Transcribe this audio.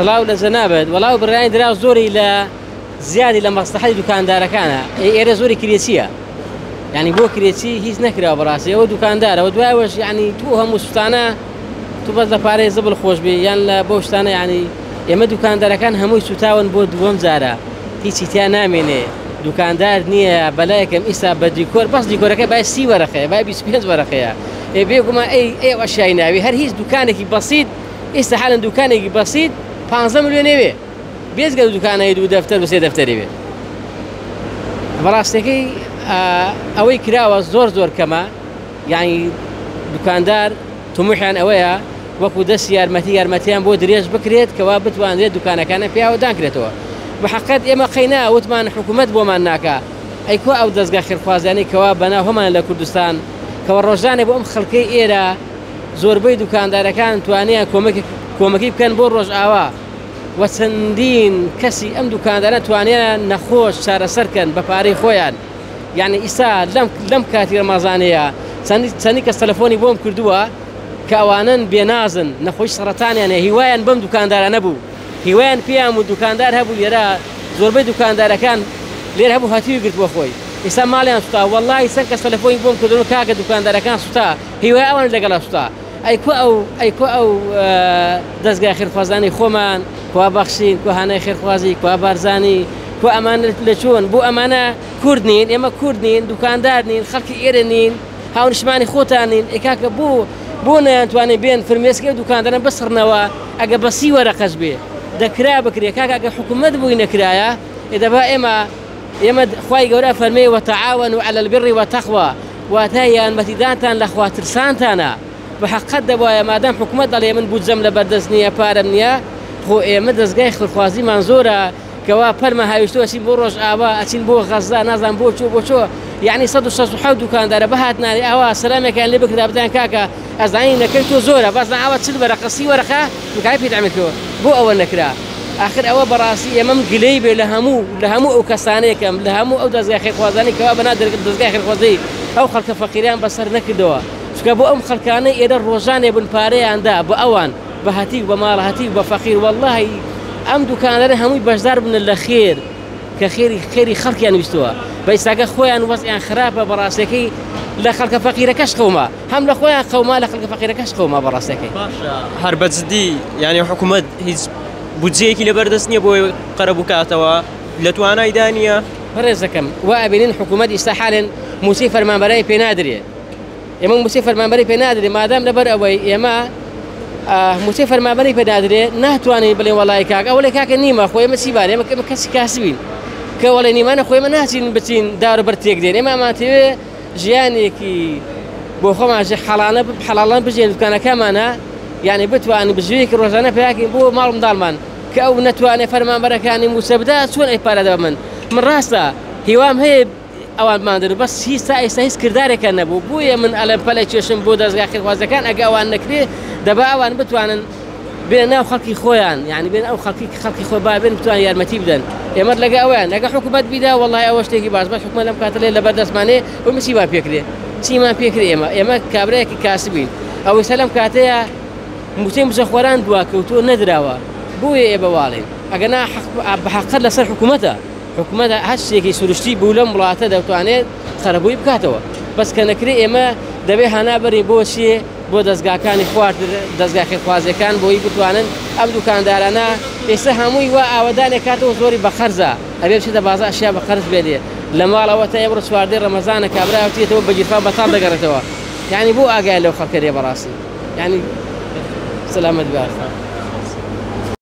سڵاو لە جەنابت وەڵا برایانی دراو زۆری لە زیادی لە مەسلحەتی دوکاندارەکانە ئەی ئێرە زۆری کرێچیە یعنی بۆ کرێچی هیچ نەکراوە بەڕاستی ئەوە دوکاندارەوە دوایەوەش یعنی تو هەموو سوستانە تو بەس لە پارەی زبل خۆش بێ یان لە بۆ شتانە ینی ئێمە دوکاندارەکان هەمووی سوتاون بۆ دووەم جارە هیچی تیا نامێنێ دوکاندار نییە بەلایەکەم ئیستا بە دیکۆر بەس دیکۆرەکە بای سی وەرەخەیە بای 25 وەرەخەیە ئێ بێگومان ئەی ئێ ئەشای ناوی هەر هیچ دوکانێکی بەسییت ئیستا حالەن دوکانێکی بەسیت پانزە ملیۆنێ وێ بێجگە لە دوکانەی دوو دەفتەر و سێ دەفتەرێ وێ بەڕاستەکەی ئەوەی کراوە زۆر زۆر کەمە یعنی دوکاندار تموحیان ئەوەیە وەکو دەست یارمەتی یارمەتیان بۆ درێژ بکرێت کەوا بتوانرێت دوکانەکانە پیاوە دانکرێتەوە بەحقت ئێمە قەینا وتمان حکوومەت بۆمان ناکە ئەیکۆ ئەو دەستگا خێرخوازیانەی کەوا بەنا هەمان لە کوردستان کەەوە ڕۆژانێک بۆ ئەم خەڵکەی ئێرە زۆربەی دوکاندارەکان توانیان کۆمەکی بکەن بۆ ڕۆژئاوا و چەندین کەسی ئەم دوکاندارە توانیان نەخۆش چارەسەرکەن بە پارەی خۆیان یعنی ئیستا لەم کاتی ڕمازانەیە چەندی کەس تەلەفۆنی بۆم کردووە کە ئەوانن بێنازن نەخۆش سەرەتانیانە هیوایان بەم دوکاندارانە بوو هیوایان پێیان و دوکاندار هەبوو لێرە زۆربەی دوکاندارەکان لێر هەبوو هاتیوی گرتووە خۆی ئیستا ماڵیان سوتا وەڵی چەند کەس تەلەفۆنی بۆم کردن و کاکە دوکاندارەکان سوتا هیوای ئەوان لەگەڵ ئەستا ئەی کو ئەو ئەی کو ئەو دەستگای خێرخوازانی خۆمان کوا بەخشین کو هانای خێرخوازی کوا بارزانی کو ئەمان لە چۆن بۆ ئەمانە کورد نین ئێمە کورد نین دوکاندار نین خەڵکی ئێرە نین هاونشمانی خۆتان نین ئێکاکە بۆ بۆ نەیانتوانێت بێن فرمێسکە و دوکاندارە بسڕنەوە ئەگە بەسی وەرەقەش بێ دەکرا بکرێ کاکە ئەگە حکوومەت بووی نەکرایە ئێدەبا ئێمە ئێمە خوای گەورە فەرمێ وتعاونوا علی البر وتقوا واتە یارمەتیدانتان لە خوا ترسانتانە بە حەقەت دەبوایە مادام حکومەت دەڵێ من بودجەم لە بەردەست نییە پارەم نییە خۆ ئێمە دەستگای خێرخوازیمان زۆرە کەوا پەرمە هاویشتو ئەچین بۆ ڕۆژ ئاوا ئەچین بۆ غەزدا نازان بۆ چۆ بۆ چۆ یعنی 16 دوکاندارە بهاتنانی ئاوا سەلامێکیان لێ بکرا بزان کاکە ئەزانی نەکەی تۆ زۆرە بەس نا ئەوە چل وەرەقە سی وەرەقە مکای پێ دامێ کردوە بۆ ئەوە نەکرا ئاخر ئەوە بەڕاستی ئێمەم گلەی بێ لە هەموو لە هەموو ئەو کەسانێکم لە هەموو ئەو دەزگای خێرخوازانی کەوا بەنا دەزگای خێرخوازی ئەو خەڵکە فەقیریان بەسەر نەکردەوە چکە بۆ ئەم خەلکانەی ئێرە ڕۆژانێ بن پارەیاندا بە ئەوان بە هەتیو بە ماڵە هەتیو بە فەقیر واللهی ئەم دوکانەرە هەمووی بەشدار بنە لە خێر کە خێری خێری خەڵکیان ویستووە بەیساگە خۆیان وەزیان خراپە بەڕاستەکەی لە خەڵکە فەقیرەکەش قەوما هەم لە خۆیان قەوما لە خەڵکە فەقیرەکەش قەوما بە ڕاستەکەی باشە هەر بە جدی یعنی حکوومەت هیچ بودجەیەکی لەبەردەست نییە بۆی قەرە بکاتەوە لە توانای دانیە بەڕێزەکەم و ئەبینین حکوومەت ئیستا حالێن موچەی فەرمانبەرای پێ نادرێ ئێمە موچەی فەرمانبەری پێ نادرێ مادام لەبەر ئەوەی ئێمە موچەی فەرمانبەری پێ نادرێ ناتوانین بڵێ وڵی کاک ئەوە لە کاکە نیمە خۆی مە چی بارێمە کەمە کەسی کاسبین کەوەڵێ نیمانە خۆی مە ناچین بچین دار بەر تێک دێن ئێمە ئەمانتەوێ ژیانێکی بۆ خۆمان ژێ حەڵانە حەڵاڵان بژێن دوکانەکەمانە یعنی بتوانین بژێوێکی ڕۆژانە پیاکەین بۆ ماڵ منداڵمان کە ئەو نەتوانێت فەرمانبەرەکانی مووچە بدا چۆن ئەی پارەدا من من ڕاستە هیوام هەیە ئەوان مادر بەس هیچ تا ئێستا هیچ کردارێکە نەبوو بۆیە من ئەلم پەلە کێشم بۆ دەستگا خێخوازەکان ئەگە ئەوان نەکرێ دەبا ئەوان بتوانن بێنە ناو خەڵکی خۆیان یعنی بێن ئەو خەڵکی خەڵکی خۆ بابێن بتوان یارمەتی بدەن ئێمەت لەگە ئەویان لەگە حکوومەت بیدا وڵی ئەوە شتێکی باش بەس حکومە لەم کاتلێ لە بەردەستمانێ و مسیبا پێکرێ چیمان پێکرێ ئێمە ئێمە کابراایەکی کاسبین ئەوەی سە لەم کاتەیە موچەی مزەخۆران دوا کەوتۆ نەدراوە بۆیە ئێ بەواڵێن ئەگەنا بەحقەت لەسەر حکوومەتە حکوومەت هەر شتێکی سروشتی بوو لەم وڵاتە دەتوانێت قەرەبووی بکاتەوە بەس کە نەکرێ ئێمە دەبێ هانا بەرین بۆ چیە بۆ دەزگاکانی خواردن دەزگا خێرخوازیەکان بۆی بتوانن ئەم دوکاندارانە ئێستا هەمووی وا ئاوەدانێک کاتەوە زۆری بە قەرزە ئەبێ بچێت دە بازار شیا بە قەرز بێنێ لە ماڵەوە تا ئێمڕۆ چواردەی ڕەمەزانە کابراوتێتەوە بە گیرفان بەتاڵ دەگەڕێتەوە یعنی بۆ ئاگای لەو خەڵکەێ بەڕاستی ینی سەلامەت باشە.